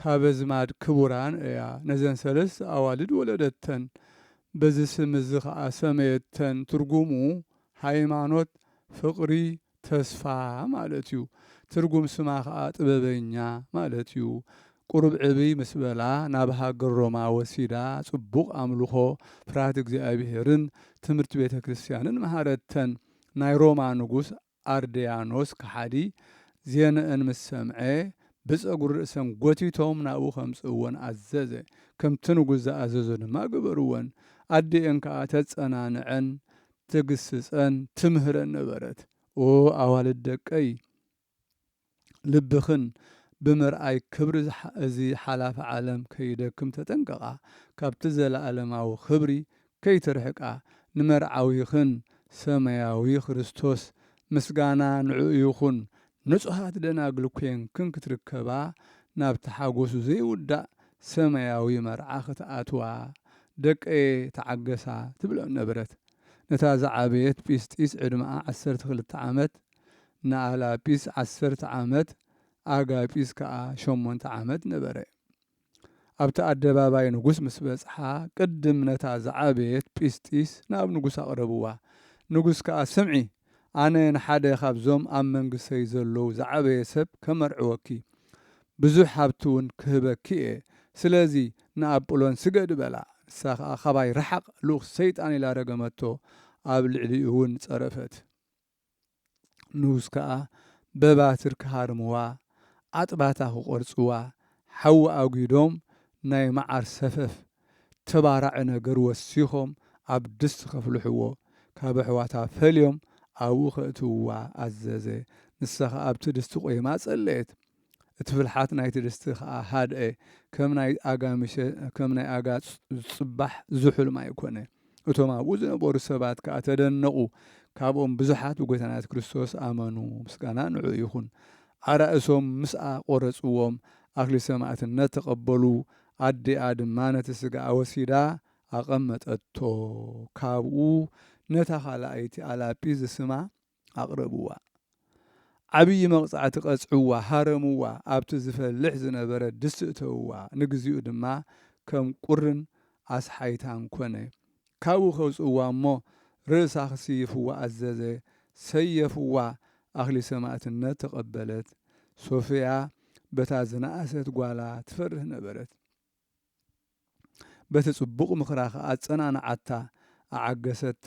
ካብ ኣዝማድ ክቡራን እያ ነዘን ሰለስተ ኣዋልድ ወለደተን። በዚ ስም እዚ ከኣ ሰመየተን፣ ትርጉሙ ሃይማኖት፣ ፍቕሪ፣ ተስፋ ማለት እዩ። ትርጉም ስማ ከኣ ጥበበኛ ማለት እዩ። ቁሩብ ዕብይ ምስ በላ ናብ ሃገር ሮማ ወሲዳ ጽቡቕ ኣምልኾ፣ ፍርሃት እግዚኣብሄርን ትምህርቲ ቤተ ክርስቲያንን መሃረተን። ናይ ሮማ ንጉስ ኣርድያኖስ ከሓዲ ዜንእን ምስ ሰምዐ፣ ብጸጕሪ ርእሰን ጐቲቶም ናብኡ ኼምጽእወን ኣዘዘ። ከምቲ ንጉስ ዝኣዘዞ ድማ ገበርወን። ኣዲኤን ከኣ ተጸናንዐን፣ ትግስጸን፣ ትምህረን ነበረት። ኦ ኣዋልድ ደቀይ! ልብኽን ብምርኣይ ክብሪ እዚ ሓላፊ ዓለም ከይደክም ተጠንቀቓ፣ ካብቲ ዘለኣለማዊ ክብሪ ከይትርሕቃ፣ ንመርዓዊኽን ሰማያዊ ክርስቶስ ምስጋና ንዕኡ ይኹን ንጹሃት ደናግል ኴንክን ክትርከባ ናብቲ ሓጎሱ ዘይውዳእ ሰማያዊ መርዓ ክትኣትዋ ደቀየ ተዓገሳ ትብለን ነበረት። ነታ ዝዓበየት ጲስጢስ ዕድመኣ ዓሰርተ ክልተ ዓመት ንኣላጲስ ዓሰርተ ዓመት ኣጋጲስ ከኣ ሸሞንተ ዓመት ነበረ። ኣብቲ ኣደባባይ ንጉስ ምስ በጽሓ ቅድም ነታ ዝዓበየት ጲስጢስ ናብ ንጉስ ኣቕረብዋ። ንጉስ ከኣ ስምዒ ኣነ ንሓደ ካብዞም ኣብ መንግስተይ ዘሎዉ ዝዓበየ ሰብ ከመርዕወኪ ብዙሕ ሃብቲ ውን ክህበኪ እየ ስለዚ ንኣጵሎን ስገዲ በላ። ንሳ ከኣ ካባይ ርሓቕ ልኡኽ ሰይጣን ኢላ ረገመቶ ኣብ ልዕሊኡ ውን ጸረፈት። ንኡስ ከኣ በባትር ክሃርምዋ፣ ኣጥባታ ክቖርጽዋ፣ ሓዊ ኣጒዶም ናይ መዓር ሰፈፍ ተባራዒ ነገር ወሲኾም ኣብ ድስቲ ከፍልሕዎ፣ ካብ ኣሕዋታ ፈልዮም ኣብኡ ከእትውዋ ኣዘዘ። ንሳ ከኣ ኣብቲ ድስቲ ቆይማ ጸለየት። እቲ ፍልሓት ናይቲ ድስቲ ከኣ ሃድአ፣ ከም ናይ ኣጋምሸ ከም ናይ ኣጋጽ ዝጽባሕ ዝሑል ማይ ኰነ። እቶም ኣብኡ ዝነበሩ ሰባት ከኣ ተደነቑ፣ ካብኦም ብዙሓት ብጐይታ ናይሱ ክርስቶስ ኣመኑ፣ ምስጋና ንዕኡ ይኹን። ኣራእሶም ምስኣ ቈረጽዎም፣ ኣክሊል ሰማእትነት ተቐበሉ፣ ኣዲኣ ድማ ነቲ ስጋኣ ወሲዳ ኣቐመጠቶ፣ ካብኡ ነታ ካልኣይቲ ኣላጲ ዝስማ፣ ኣቕረብዋ ዓብዪ መቕጻዕቲ ቀጽዕዋ ሃረምዋ ኣብቲ ዝፈልሕ ዝነበረ ድስቲ እተውዋ ንግዚኡ ድማ ከም ቁርን ኣስሓይታን ኮነ ካብኡ ከውጽእዋ እሞ ርእሳ ክስይፍዋ ኣዘዘ ሰየፍዋ ኣኽሊል ሰማእትነት ተቐበለት ሶፍያ በታ ዝነኣሰት ጓላ ትፈርህ ነበረት በቲ ጽቡቕ ምኽራ ከኣ ኣጸናንዓታ፣ ኣዓገሰታ፣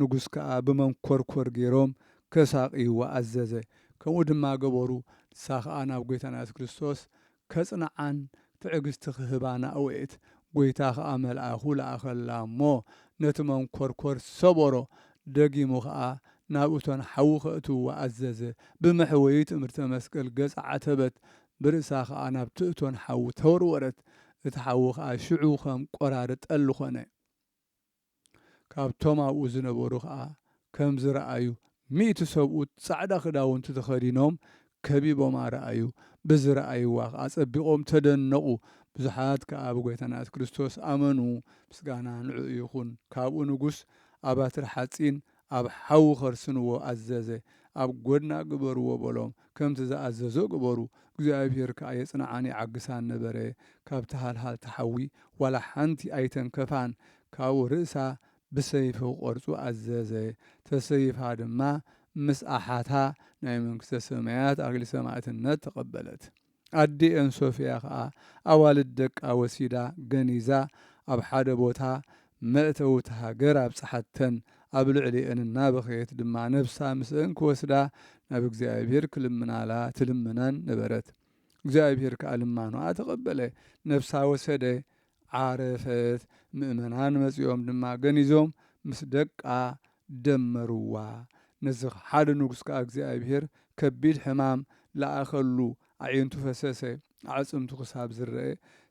ንጉስ ከኣ ብመንኰርኰር ገይሮም ከሳቕይዋ ኣዘዘ። ከምኡ ድማ ገበሩ፣ ንሳ ኸኣ ናብ ጐይታና የሱስ ክርስቶስ ከጽንዓን ትዕግስቲ ኽህባን ኣእወየት። ጐይታ ኸኣ መልኣኹ ለኣኸላ እሞ፣ ነቲ መንኰርኰር ሰበሮ፣ ደጊሙ ኸኣ ናብ እቶን ሓዊ ከእትውዋ ኣዘዘ። ብመሕወዪ ትእምርተ መስቀል ገጻ ዓተበት፣ ብርእሳ ኸኣ ናብቲ እቶን ሓዊ ተወርወረት፣ እቲ ሓዊ ኸኣ ሽዑ ኸም ቈራሪ ጠሊ ዀነ። ካብቶም ኣብኡ ዝነበሩ ኸኣ ከም ዝረኣዩ፣ ሚእቲ ሰብኡት ጻዕዳ ኽዳውንቲ ተኸዲኖም ከቢቦማ ረኣዩ፣ ብዝረኣይዋ ኸኣ ኣጸቢቖም ተደነቑ። ብዙሓት ከኣ ብጐይታና የሱስ ክርስቶስ ኣመኑ፣ ምስጋና ንዕኡ ይኹን። ካብኡ ንጉስ፣ ኣብ ባትሪ ሓጺን ኣብ ሓዊ ኸርስንዎ ኣዘዘ። ኣብ ጐድና ግበርዎ በሎም። ከምቲ ዝኣዘዞ ገበሩ። እግዚኣብሄር ከኣ የጽንዓን የዓግሳን ነበረ። ካብቲ ሃልሃልታ ሓዊ ዋላ ሓንቲ ኣይተንከፋን። ካብኡ ርእሳ ብሰይፊ ክቖርጹ ኣዘዘ። ተሰይፋ ድማ ምስ ኣሓታ ናይ መንግስተ ሰማያት ኣኽሊል ሰማእትነት ተቐበለት። ኣዲኤን ሶፍያ ከኣ ኣዋልድ ደቃ ወሲዳ ገኒዛ ኣብ ሓደ ቦታ መእተዊ እታ ሃገር ኣብጽሓተን። ኣብ ልዕሊኤን እናበኸየት ድማ ነብሳ ምስኤን ክወስዳ ናብ እግዚኣብሄር ክልምናላ ትልምነን ነበረት። እግዚኣብሄር ከኣ ልማኖኣ ተቐበለ፣ ነብሳ ወሰደ፣ ዓረፈት፣ ምእመናን መጺኦም ድማ ገኒዞም ምስ ደቃ ደመርዋ። ነዚ ሓደ ንጉሥ ከኣ እግዚኣብሔር ከቢድ ሕማም ለኣኸሉ፣ ኣዒንቱ ፈሰሰ፣ ኣዕጽምቱ ክሳብ ዝረኣ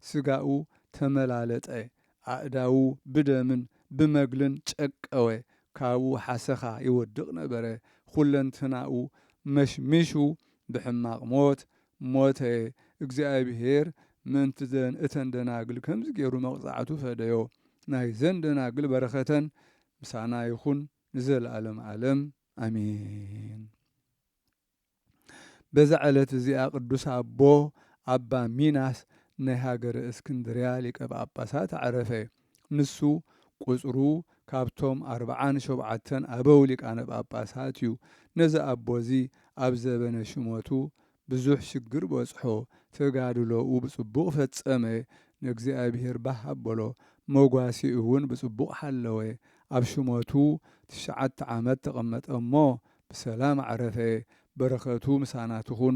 ሥጋኡ ተመላለጠ፣ ኣእዳዉ ብደምን ብመግልን ጨቀወ፣ ካብኡ ሓሰኻ ይወድቕ ነበረ፣ ኵለንትናኡ መሽሚሹ ብሕማቕ ሞት ሞተ እግዚኣብሄር ምእንቲ ዘን እተን ደናግል ከምዚ ጌሩ መቅጻዕቱ ፈደዮ ናይዘን ደናግል በረከተን ምሳና ይኩን ንዘለኣለም ኣለም ኣሜን። በዛ ዕለት እዚኣ ቅዱስ ኣቦ ኣባ ሚናስ ናይ ሃገረ እስክንድርያ ሊቀ ጳጳሳት ኣዕረፈ። ንሱ ቁጽሩ ካብቶም ኣርብዓን ሾብዓተን ኣበው ሊቃነ ጳጳሳት እዩ። ነዚ ኣቦ እዚ ኣብ ዘበነ ሽመቱ ብዙሕ ሽግር በጽሖ፣ ተጋድሎኡ ብጽቡቕ ፈጸመ፣ ንእግዚኣብሔር ባህ ኣበሎ፣ መጓሴኡ እውን ብጽቡቕ ሓለወ፣ ኣብ ሽመቱ ትሽዓተ ዓመት ተቐመጠ እሞ ብሰላም ዓረፈ፣ በረከቱ ምሳና ትኹን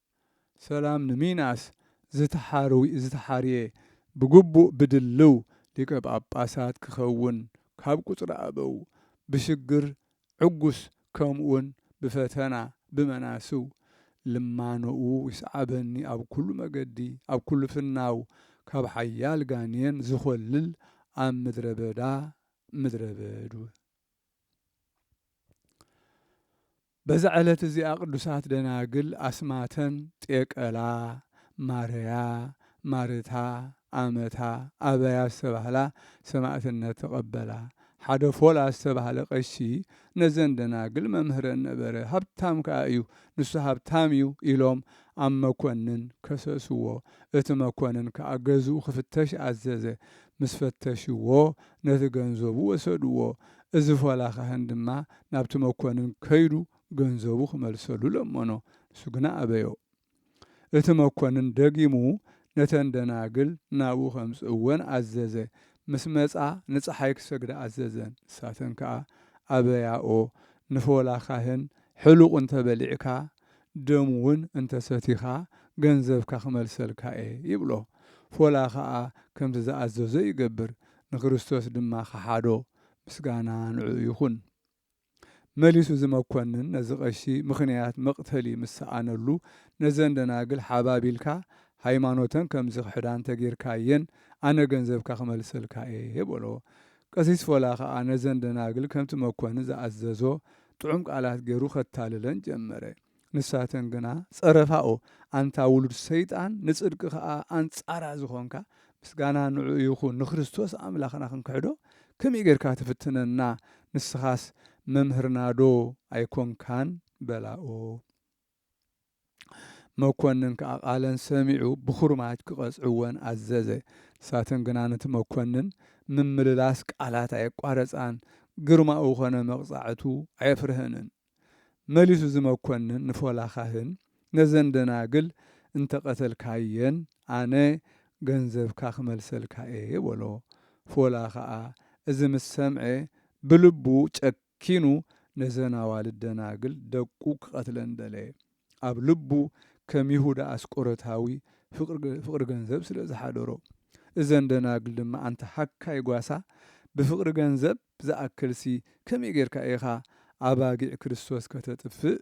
ሰላም ንሚናስ ዝተሓርየ ብግቡእ ብድልው ሊቀ ጳጳሳት ክኸውን ካብ ቁጽሪ ኣበው ብሽግር ዕጉስ ከምኡውን ብፈተና ብመናስው ልማኖኡ ይስዓበኒ ኣብ ኩሉ መገዲ ኣብ ኩሉ ፍናው ካብ ሓያል ጋኔን ዝኾልል ኣብ ምድረ በዳ ምድረ በድ በዛ ዕለት እዚኣ ቅዱሳት ደናግል ኣስማተን ጤቀላ፣ ማርያ፣ ማርታ፣ ኣመታ፣ ኣበያ ዝተባህላ ሰማእትነት ተቐበላ። ሓደ ፎላ ዝተባህለ ቀሺ ነዘን ደናግል መምህረን ነበረ፣ ሃብታም ከኣ እዩ፣ ንሱ ሃብታም እዩ ኢሎም ኣብ መኮንን ከሰስዎ። እቲ መኮንን ከኣ ገዝኡ ክፍተሽ ኣዘዘ። ምስ ፈተሽዎ ነቲ ገንዘቡ ወሰድዎ። እዚ ፎላ ካህን ድማ ናብቲ መኰንን ከይዱ ገንዘቡ ኺመልሰሉ ለመኖ። ንሱ ግና ኣበዮ። እቲ መኰንን ደጊሙ ነተን ደናግል ናብኡ ኼምጽእወን ኣዘዘ። ምስ መጻ፣ ንጸሓይ ኪሰግዳ ኣዘዘን። ንሳተን ከኣ ኣበያኦ። ንፎላ ኻህን፣ ሕሉቕ እንተ በሊዕካ፣ ደሙ ውን እንተ ሰቲኻ ገንዘብካ ክመልሰልካ እየ ይብሎ። ፎላ ከኣ ከምቲ ዝኣዘዞ ይገብር ንክርስቶስ ድማ ከሓዶ። ምስጋና ንዕኡ ይኹን። መሊሱ እዚ መኮንን ነዚ ቀሺ ምኽንያት መቅተሊ ምስ ሰኣነሉ ነዘን ደናግል ሓባቢልካ ሃይማኖተን ከም ዝኽሕዳ እንተ ጌርካየን ኣነ ገንዘብካ ክመልሰልካ እየ በሎ። ቀሲስ ፎላ ከኣ ነዘን ደናግል ከምቲ መኮንን ዝኣዘዞ ጥዑም ቃላት ገይሩ ከታልለን ጀመረ። ንሳተን ግና ጸረፋኦ፣ ኣንታ ውሉድ ሰይጣን፣ ንጽድቂ ከኣ ኣንጻራ ዝኾንካ፣ ምስጋና ንዕኡ ይኹን፣ ንክርስቶስ ኣምላኽና ክንክሕዶ ከመይ ገይርካ ትፍትነና፣ ንስኻስ መምህርናዶ ኣይኮንካን? በላኦ። መኰንን ከኣ ቓለን ሰሚዑ ብዅርማጅ ኪቐጽዕወን ኣዘዘ። ንሳተን ግና ነቲ መኰንን ምምልላስ ቃላት ኣየቋረጻን፣ ግርማኡ ዀነ መቕጻዕቱ ኣየፍርሀንን። መሊሱ እዚ መኰንን ንፎላ ኻህን፣ ነዘን ደናግል እንተ ቐተልካየን፣ ኣነ ገንዘብካ ኽመልሰልካ እየ በሎ። ፎላ ኸኣ እዚ ምስ ሰምዐ፣ ብልቡ ጨከነ። ኪኑ ነዘን ኣዋልድ ደናግል ደቁ ክቐትለን ደለየ። ኣብ ልቡ ከም ይሁዳ ኣስቆሮታዊ ፍቕሪ ገንዘብ ስለ ዝሓደሮ። እዘን ደናግል ድማ ኣንታ ሃካይ ጓሳ ብፍቕሪ ገንዘብ ዝኣክልሲ ከመይ ጌርካ ኢኻ ኣባጊዕ ክርስቶስ ከተጥፍእ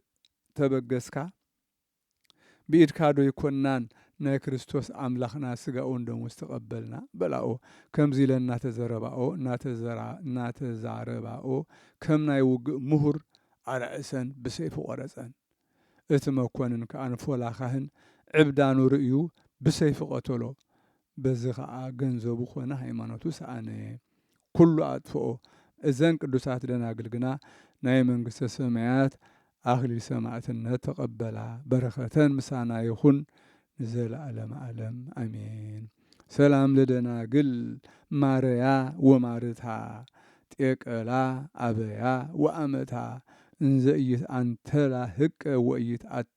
ተበገስካ? ብኢድካ ዶ ኣይኮናን ናይ ክርስቶስ ኣምላኽና ስጋኡን ደሙ ዝተቐበልና? በላኦ። ከምዚ ኢለን እናተዘረባኦ እናተዛረባኦ ከም ናይ ውግእ ምሁር ኣርዕሰን ብሰይፉ ቆረጸን። እቲ መኮንን ከኣ ንፎላ ካህን ዕብዳኑ ርእዩ ብሰይፊ ቀተሎ። በዚ ኸኣ ገንዘቡ ዀነ ሃይማኖቱ ሰኣነ፣ ኵሉ ኣጥፍኦ። እዘን ቅዱሳት ደናግል ግና ናይ መንግስተ ሰማያት ኣኽሊል ሰማእትነት ተቐበላ። በረኸተን ምሳና ይኹን ንዘለኣለመ ኣለም ኣሜን። ሰላም ለደናግል ማረያ ወማርታ ጤቀላ ኣበያ ወኣመታ እንዘ ኢይትኣንተላ ህቀ ወኢይትኣተያ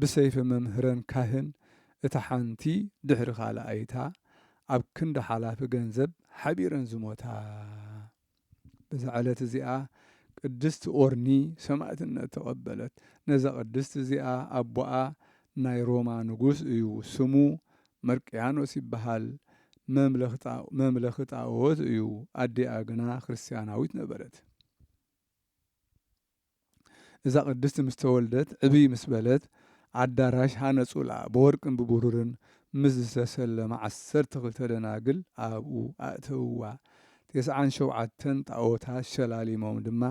ብሰይፊ መምህረን ካህን እታ ሓንቲ ድሕሪ ካልኣይታ ኣብ ክንዲ ሓላፊ ገንዘብ ሓቢረን ዝሞታ። በዛ ዕለት እዚኣ ቅድስት ኦርኒ ሰማእትነት ተቐበለት። ነዛ ቅድስት እዚኣ ኣቦኣ ናይ ሮማ ንጉስ እዩ፣ ስሙ መርቅያኖስ ይበሃል፣ መምለኺ ጣኦት እዩ፣ ኣዲኣ ግና ክርስትያናዊት ነበረት። እዛ ቅድስት ምስ ተወልደት ዕብይ ምስ በለት ኣዳራሽ ሃነጹላ፣ ብወርቅን ብብሩርን ምስ ዝተሰለማ ዓሰርተ ክልተ ደናግል ኣብኡ ኣእተውዋ፣ ቴስዓን ሸውዓተን ጣኦታት ሸላሊሞም ድማ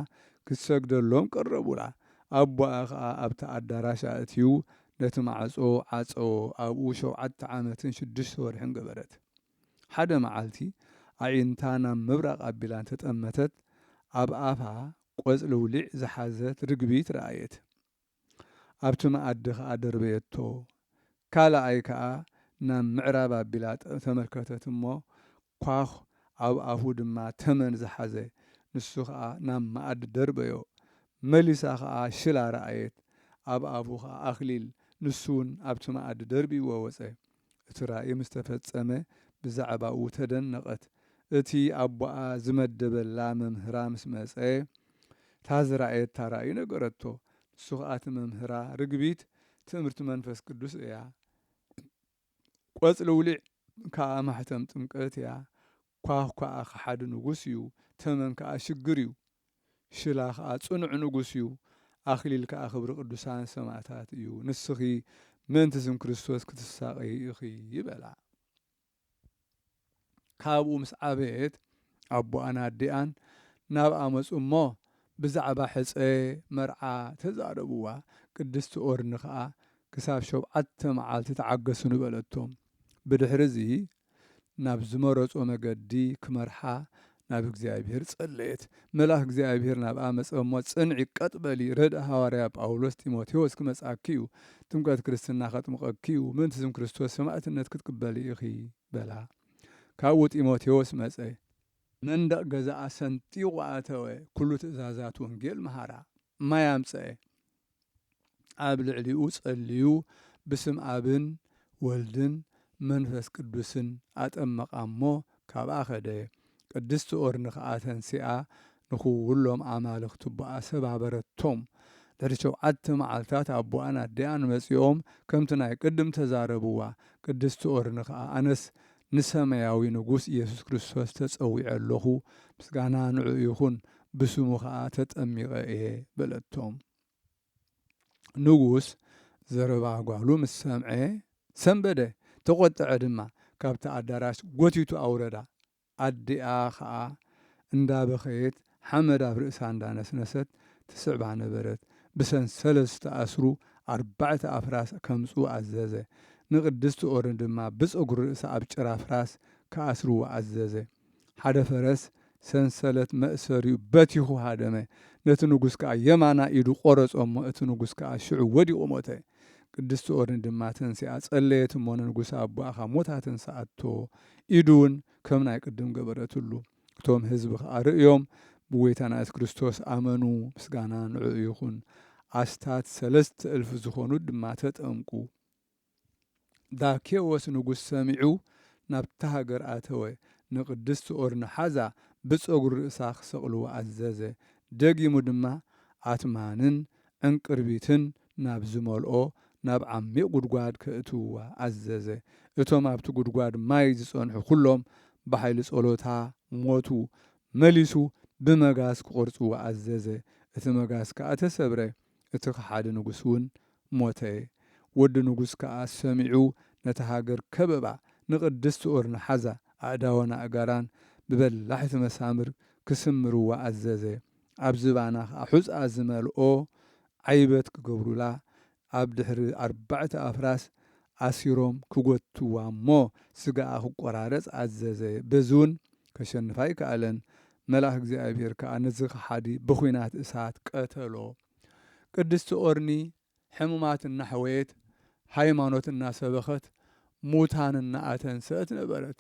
ክትሰግደሎም ቀረቡላ፣ ኣቦኣ ኸኣ ኣብቲ ኣዳራሽ ኣእትዩ ነቲ ማዕጾ ዓጸዎ፣ ኣብኡ ሸውዓተ ዓመትን ሽዱሽተ ወርሕን ገበረት። ሓደ መዓልቲ ኣዒንታ ናብ ምብራቕ ኣቢላ እንተ ጠመተት ኣብ ኣፋ ቆጽሊ ውሊዕ ዝሓዘት ርግቢት ረኣየት። ኣብቲ መኣዲ ከኣ ደርበየቶ። ካልኣይ ከኣ ናብ ምዕራብ ኣቢላ ተመልከተት እሞ ኳዅ ኣብ ኣፉ ድማ ተመን ዝሓዘ ንሱ ከኣ ናብ መኣዲ ደርበዮ። መሊሳ ከኣ ሽላ ረኣየት ኣብ ኣፉ ከኣ ኣኽሊል ንሱውን ኣብቲ መኣዲ ደርብይዎ ወጸ። እቲ ራእይ ምስ ተፈጸመ ብዛዕባኡ ተደነቐት። እቲ ኣቦኣ ዝመደበላ መምህራ ምስ መጸ፣ እታ ዝረኣየታ ራእይ ነገረቶ። ንሱ ኸኣ እቲ መምህራ፣ ርግቢት ትእምርቲ መንፈስ ቅዱስ እያ፣ ቈጽሊ ውሊዕ ከኣ ማሕተም ጥምቀት እያ፣ ኳኽ ከኣ ከሓዲ ንጉስ እዩ፣ ተመን ከኣ ሽግር እዩ፣ ሽላ ከኣ ጽኑዕ ንጉስ እዩ፣ ኣኽሊል ከኣ ክብሪ ቅዱሳን ሰማእታት እዩ፣ ንስኺ ምእንቲ ስም ክርስቶስ ክትሳቐዪ ኢኺ በላ። ካብኡ ምስ ዓበየት ኣቦኣን ኣዲኣን ናብኣ መጹ እሞ ብዛዕባ ሕጸ መርዓ ተዛረብዋ፣ ቅድስቲ ኦርኒ ከኣ ክሳብ ሾብዓተ መዓልቲ ተዓገሱኒ በለቶም፣ ብድሕርዚ ናብ ዝመረጾ መገዲ ክመርሓ ናብ እግዚኣብሔር ጸለየት። መልኣክ እግዚኣብሔር ናብኣ መጸ እሞ ጽንዒ ቀጥ በሊ ረድእ ሃዋርያ ጳውሎስ ጢሞቴዎስ ክመጽኣኪ እዩ ጥምቀት ክርስትና ከጥምቀኪ እዩ ምእንቲ ስም ክርስቶስ ሰማእትነት ክትቅበሊ ኢኺ በላ። ካብኡ ጢሞቴዎስ መጸ። መንደቅ ገዛኣ ሰንጢቁ ኣተወ ኩሉ ትእዛዛት ወንጌል መሃራ። ማይ ኣምጸኤ። ኣብ ልዕሊኡ ጸልዩ ብስም ኣብን ወልድን መንፈስ ቅዱስን ኣጠመቓ እሞ ካብኣ ከደ። ቅድስቲ ኦርኒ ከኣ ተንሲኣ ንኹሎም ኣማልኽቲ ኣቦኣ ሰባበረቶም። ድሕሪ ሸውዓተ መዓልታት ኣቦኣን ኣዲኣን መጺኦም ከምቲ ናይ ቅድም ተዛረብዋ። ቅድስቲ ኦርኒ ከኣ ኣነስ ንሰመያዊ ንጉስ ኢየሱስ ክርስቶስ ተጸዊዐ ኣሎኹ ምስጋና ንዕኡ ይኹን ብስሙ ኸኣ ተጠሚቐ እየ በለቶም። ንጉስ ዘረባ ጓሉ ምስ ሰምዐ ሰንበደ፣ ተቈጥዐ ድማ፣ ካብቲ ኣዳራሽ ጐቲቱ ኣውረዳ። ኣዲኣ ኸኣ እንዳበኸየት ሓመድ ኣብ ርእሳ እንዳነስነሰት ትስዕባ ነበረት። ብሰንሰለት ዝተኣስሩ ኣርባዕተ ኣፍራስ ከምጽኡ ኣዘዘ። ንቅድስቲ ኦርን ድማ ብጸጉሪ ርእሳ ኣብ ጭራ ፍራስ ክኣስርዋ ኣዘዘ። ሓደ ፈረስ ሰንሰለት መእሰሪኡ በቲኹ ሃደመ፣ ነቲ ንጉስ ከኣ የማናይ ኢዱ ቈረጾ እሞ፣ እቲ ንጉስ ከኣ ሽዑ ወዲቑ ሞተ። ቅድስቲ ኦርኒ ድማ ተንሲኣ ጸለየት እሞ፣ ንንጉስ ኣቦኣ ኻብ ሞት ኣተንስኣቶ፣ ኢዱውን ከም ናይ ቅድም ገበረትሉ። እቶም ህዝቢ ኸኣ ርእዮም ብጐይታና የሱስ ክርስቶስ ኣመኑ፣ ምስጋና ንዕኡ ይኹን፣ ኣስታት ሰለስተ እልፊ ዝኾኑ ድማ ተጠምቁ። ዛኬዎስ ንጉሥ ሰሚዑ ናብታ ሃገር ኣተወ፣ ንቅድስት ኦርኒ ሓዛ ብጸጉሪ ርእሳ ክሰቅልዋ ኣዘዘ፣ ደጊሙ ድማ ኣትማንን ዕንቅርቢትን ናብ ዝመልኦ ናብ ዓሚቅ ጉድጓድ ከእትውዋ ኣዘዘ፣ እቶም ኣብቲ ጉድጓድ ማይ ዝጸንሑ ኩሎም ብሓይሊ ጸሎታ ሞቱ፣ መሊሱ ብመጋስ ክቆርጽዋ ኣዘዘ፣ እቲ መጋስ ከኣ ተሰብረ፣ እቲ ከሓዲ ንጉስ እውን ሞተ። ወዲ ንጉስ ከኣ ሰሚዑ ነታ ሃገር ከበባ፣ ንቅድስት ኦርኒ ሓዛ ኣእዳዋን ኣእጋራን ብበላሕቲ መሳምር ክስምርዋ ኣዘዘ፣ ኣብ ዝባና ከኣ ሑጻ ዝመልኦ ዓይበት ክገብሩላ፣ ኣብ ድሕሪ ኣርባዕተ ኣፍራስ ኣሲሮም ክጎትትዋ እሞ ስጋኣ ክቆራረጽ ኣዘዘ፣ በዚ እውን ከሸንፋ ኣይከኣለን፣ መልኣኽ እግዚኣብሄር ከኣ ነዚ ከሓዲ ብዂናት እሳት ቀተሎ። ቅድስቲ ኦርኒ ሕሙማት እናሕወየት፣ ሃይማኖት እናሰበኸት፣ ሙታን እናኣተንሰእት ነበረት።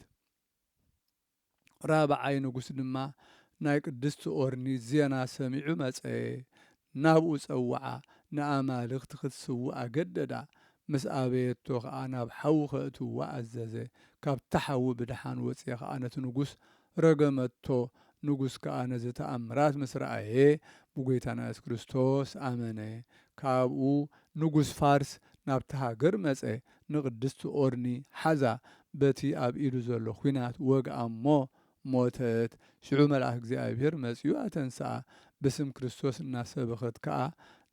ራብዓይ ንጉስ ድማ ናይ ቅድስቲ ኦርኒ ዜና ሰሚዑ መጸ፣ ናብኡ ጸውዓ፣ ንኣማልኽቲ ኽትስውእ ኣገደዳ፣ ምስ ኣበየቶ ኸኣ ናብ ሓዊ ኼእትዋ ኣዘዘ። ካብቲ ሓዊ ብደሓን ወጽየ ኸኣ ነቲ ንጉስ ረገመቶ፣ ንጉስ ከኣ ነዚ ተኣምራት ምስ ረኣየ፣ ብጐይታና የሱስ ክርስቶስ ኣመነ። ካብኡ ንጉስ ፋርስ ናብታ ሃገር መጸ፣ ንቕድስቲ ኦርኒ ሓዛ፣ በቲ ኣብ ኢዱ ዘሎ ዂናት ወግኣ እሞ ሞተት፣ ሽዑ መልኣክ እግዚኣብሔር መጺኡ ኣተንስኣ፣ ብስም ክርስቶስ እናሰበኸት ከኣ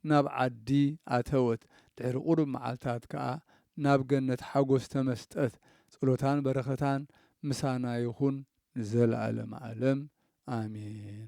ናብ ዓዲ ኣተወት፣ ድሕሪ ቁሩብ መዓልታት ከኣ ናብ ገነት ሓጎስ ተመስጠት፣ ጸሎታን በረከታን ምሳና ይኹን ንዘለኣለመ ኣለም ኣሜን።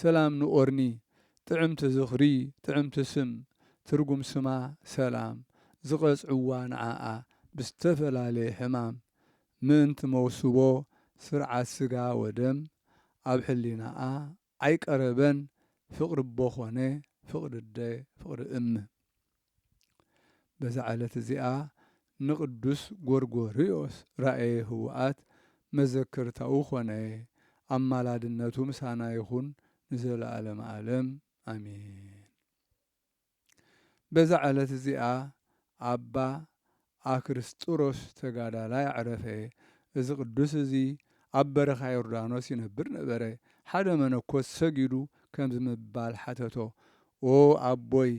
ሰላም ን ኦርኒ ጥዕምቲ ዝኽሪ ጥዕምቲ ስም ትርጉም ስማ ሰላም ዝቀጽዕዋ ንዓኣ ብዝተፈላለየ ሕማም ምእንቲ መውስቦ ስርዓት ስጋ ወደም ኣብ ሕሊናኣ ኣይቀረበን ፍቅሪ ኣቦ ኮነ ፍቅሪ ኣደ ፍቅሪ እም በዛ ዕለት እዚኣ ንቅዱስ ጎርጎርዮስ ራእየ ህወኣት መዘከርታኡ ኮነ። ኣማላድነቱ ምሳና ይኹን ንዘለዓለመ ዓለም ኣሜን። በዛ ዕለት እዚኣ ኣባ ኣክርስጥሮስ ተጋዳላይ ኣዕረፈ። እዚ ቅዱስ እዚ ኣብ በረኻ ዮርዳኖስ ይነብር ነበረ። ሓደ መነኮስ ሰጊዱ ከምዚ ብምባል ሓተቶ፣ ኦ ኣቦይ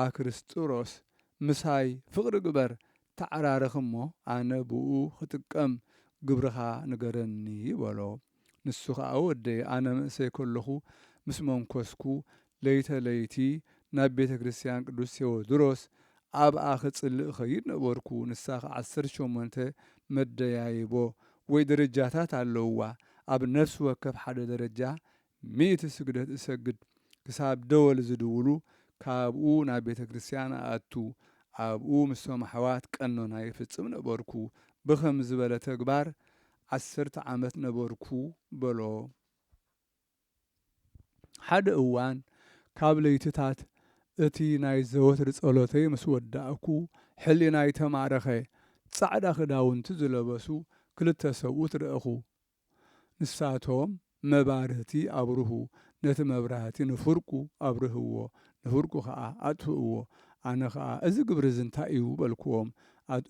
ኣክርስጥሮስ፣ ምሳይ ፍቕሪ ግበር፣ ተዓራረኽ እሞ ኣነ ብእኡ ኽጥቀም ግብርኻ ንገረኒ በሎ። ንሱ ኸኣ ወደይ ኣነ ምእሰይ ከለኹ ምስ መንኰስኩ ለይተ ለይቲ ናብ ቤተ ክርስትያን ቅዱስ ቴዎድሮስ ኣብኣ ክጽሊ እኸይድ ነበርኩ ንሳ ኸኣ ዓሰርተ ሸሞንተ መደያይቦ ወይ ደረጃታት ኣለዉዋ ኣብ ነፍሲ ወከፍ ሓደ ደረጃ ሚእቲ ስግደት እሰግድ ክሳብ ደወል ዝድውሉ ካብኡ ናብ ቤተ ክርስትያን እኣቱ ኣብኡ ምስቶም ኣሕዋት ቀኖና ይፍጽም ነበርኩ ብኸምዚ ዝበለ ተግባር ዓሰርተ ዓመት ነበርኩ በሎ። ሓደ እዋን ካብ ለይትታት እቲ ናይ ዘወትር ጸሎተይ ምስ ወዳእኩ፣ ሕሊናይ ተማረኸ። ጻዕዳ ክዳውንቲ ዝለበሱ ክልተ ሰብኡት ረእኹ። ንሳቶም መባርህቲ ኣብርሁ፣ ነቲ መብራህቲ ንፍርቁ ኣብርህዎ፣ ንፍርቁ ኸኣ ኣጥፍእዎ። ኣነ ኸኣ፣ እዚ ግብሪ እዚ እንታይ እዩ? በልክዎም።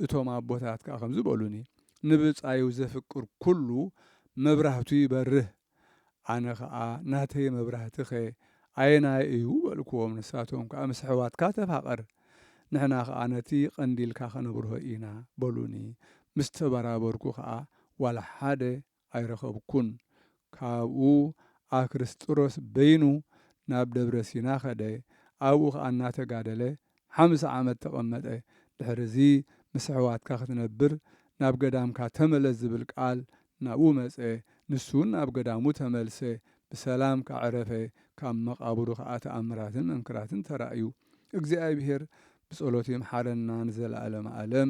እቶም ኣቦታት ከኣ ከምዚ በሉኒ፣ ንብጻዩ ዜፍቅር ኵሉ፣ መብራህቱ ይበርህ። ኣነ ኸኣ፣ ናተይ መብራህቲኸ ኣየናይ እዩ? በልክዎም። ንሳቶም ከኣ፣ ምስ ኣሕዋትካ ተፋቐር፣ ንሕና ኸኣ ነቲ ቐንዲልካ ኸነብርሆ ኢና፣ በሉኒ። ምስ ተበራበርኩ ኸኣ፣ ዋላ ሓደ ኣይረኸብኩን። ካብኡ ኣክርስጥሮስ በይኑ ናብ ደብረ ሲና ከደ፣ ኣብኡ ኸኣ እናተጋደለ ሓምሳ ዓመት ተቐመጠ። ድሕርዚ ምስ ኣሕዋትካ ክትነብር ናብ ገዳምካ ተመለስ ዝብል ቃል ናብኡ መጸ። ንሱውን ናብ ገዳሙ ተመልሰ፣ ብሰላም ከኣ ዐረፈ፣ ካብ መቓብሩ ከኣ ተኣምራትን መንክራትን ተራእዩ። እግዚኣብሄር ብጸሎቱ ይምሓረና ንዘለኣለመ ኣለም።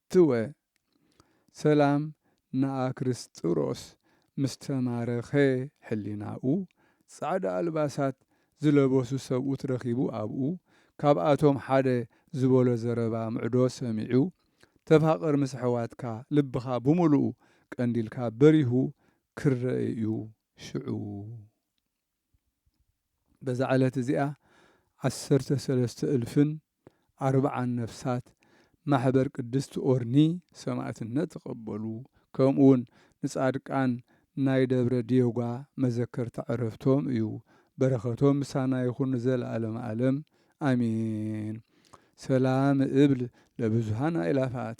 ትወ ሰላም ንኣክርስጥሮስ ምስ ተማረኸ ሕሊናኡ ጻዕዳ ኣልባሳት ዝለበሱ ሰብኡት ረኺቡ ኣብኡ ካብኣቶም ሓደ ዝበሎ ዘረባ ምዕዶ ሰሚዑ ተፋቐር ምስ ኣሕዋትካ ልብኻ ብምሉኡ ቀንዲልካ በሪሁ ክረኤ እዩ ሽዑ በዛ ዕለት እዚኣ ዓሰርተ ሰለስተ እልፍን ኣርብዓን ነፍሳት ማሕበር ቅድስት ኦርኒ ሰማእትነት ተቐበሉ። ከምኡውን ንጻድቃን ናይ ደብረ ዲዮጓ መዘከርታ ዕረፍቶም እዩ። በረኸቶም ምሳና ይኹን ንዘለዓለመ ዓለም ኣሜን። ሰላም እብል ለብዙኃን ኣእላፋት።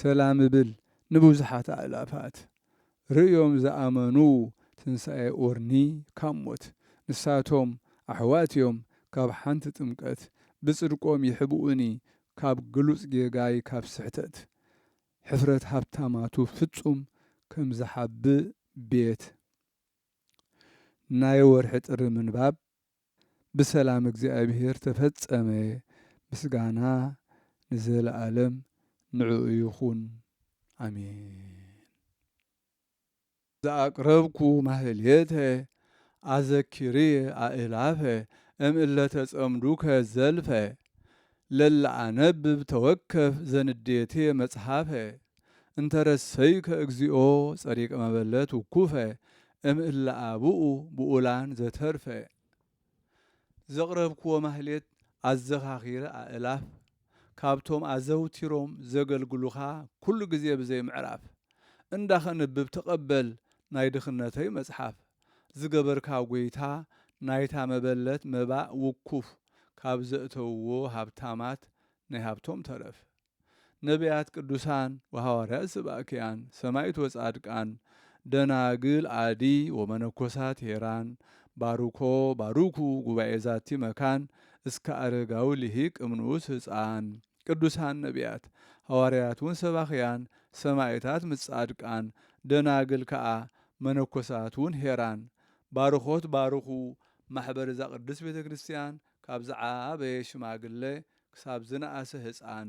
ሰላም እብል ንብዙሓት ኣእላፋት ርእዮም ዝኣመኑ ትንሳኤ ኦርኒ ካብ ሞት። ንሳቶም ኣሕዋት እዮም ካብ ሓንቲ ጥምቀት ብጽድቆም ይሕብኡኒ ካብ ግሉጽ ጌጋይ ካብ ስሕተት ሕፍረት ሃብታማቱ ፍጹም ከም ዝሓብእ ቤት ናይ ወርሒ ጥሪ ምንባብ ብሰላም እግዚኣብሔር ተፈጸመ ምስጋና ንዘለዓለም ንዕኡ ይኹን ኣሜን። ዘኣቅረብኩ ማህሌተ ኣዘኪርየ ኣእላፈ እም እለ ተጸምዱከ ዘልፈ ለለኣነብብ ተወከፍ ዘንዴቴ መጽሐፈ እንተ ረሰይከ እግዚኦ ጸሪቀ መበለት ውኩፈ እም እለ አብኡ ብኡላን ዘተርፈ። ዘቕረብክዎ ማህሌት ኣዘኻኺረ ኣእላፍ ካብቶም ኣዘውቲሮም ዘገልግሉኻ ኩሉ ግዜ ብዘይ ምዕራፍ። እንዳ ከንብብ ተቐበል ናይ ድኽነተይ መጽሓፍ። ዝገበርካ ጐይታ ናይታ መበለት መባእ ውኩፍ ካብ ዘእተውዎ ሃብታማት ናይ ሃብቶም ተረፍ ነብያት ቅዱሳን ወሃዋርያት ስባእክያን ሰማኢት ወጻድቃን ደናግል ኣዲ ወመነኮሳት ሄራን ባርኮ ባርኩ ጉባኤ ዛቲ መካን እስከ ኣረጋዊ ሊሂቅ እምንኡስ ህጻን ቅዱሳን ነብያት ሃዋርያት ውን ሰባኽያን ሰማኢታት ምስ ጻድቃን ደናግል ከኣ መነኮሳት ውን ሄራን ባርኾት ባርኹ ማሕበር እዛ ቅድስት ቤተ ክርስቲያን ካብ ዝዓበየ ሽማግለ ክሳብ ዝነኣሰ ህጻን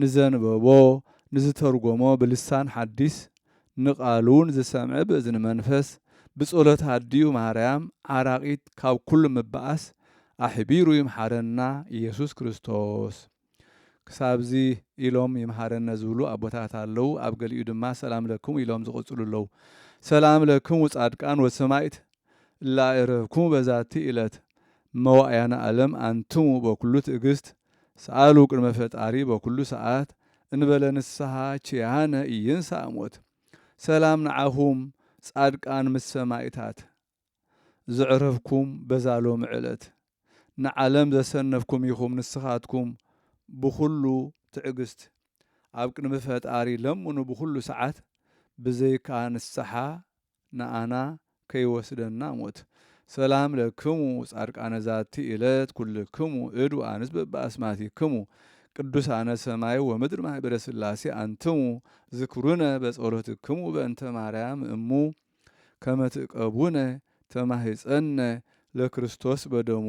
ንዘንበቦ ንዝተርጎሞ ብልሳን ሓዲስ ንቃሉውን ዝሰምዐ ብእዝኒ መንፈስ ብጸሎት ኣዲኡ ማርያም ዓራቂት ካብ ኩሉ ምባኣስ ኣሕቢሩ ይምሓረና ኢየሱስ ክርስቶስ ክሳብዚ ኢሎም ይምሃረነ ዝብሉ ኣቦታት ኣለው ኣብ ገሊኡ ድማ ሰላም ለክሙ ኢሎም ዝቅጽሉ ኣለው ሰላም ለክሙ ጻድቃን ወሰማኢት እለ ኣእረፍኩሙ በዛቲ እለት መዋእያነ ኣለም ኣንትሙ በኩሉ ትእግስት ሰኣሉ ቅድመ ፈጣሪ በኩሉ ሰዓት እንበለ ንስሃ ኪያነ ኢይንሳእ ሞት ሰላም ንዓኹም ጻድቃን ምስ ሰማኢታት ዘዕረፍኩም በዛ ሎሚ ዕለት ንዓለም ዘሰነፍኩም ኢኹም ንስኻትኩም ብኹሉ ትዕግስት ኣብ ቅድሚ ፈጣሪ ለምኑ ብኹሉ ሰዓት ብዘይካ ንስሓ ንኣና ከይወስደና ሞት። ሰላም ለክሙ ጻድቃነ ዛቲ እለት ኩልክሙ እድ ወኣንስት በበኣስማቲክሙ ቅዱሳነ ሰማይ ወምድር ማኅበረ ሥላሴ ኣንትሙ ዝክሩነ በጸሎትክሙ በእንተ ማርያም እሙ ከመ ትእቀቡነ ተማሂጸነ ለክርስቶስ በደሙ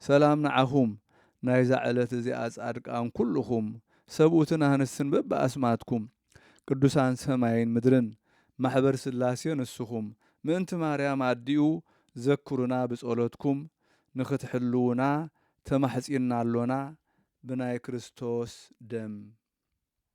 ሰላም ንዓኹም ናይዛ ዕለት እዚኣ ጻድቃን ኩሉኹም ሰብኡትን ኣንስትን በበኣስማትኩም ቅዱሳን ሰማይን ምድርን ማሕበር ሥላሴ ንስኹም ምእንቲ ማርያም ኣዲኡ ዘክሩና ብጸሎትኩም ንኽትሕልዉና ተማሕጺንና ኣሎና ብናይ ክርስቶስ ደም።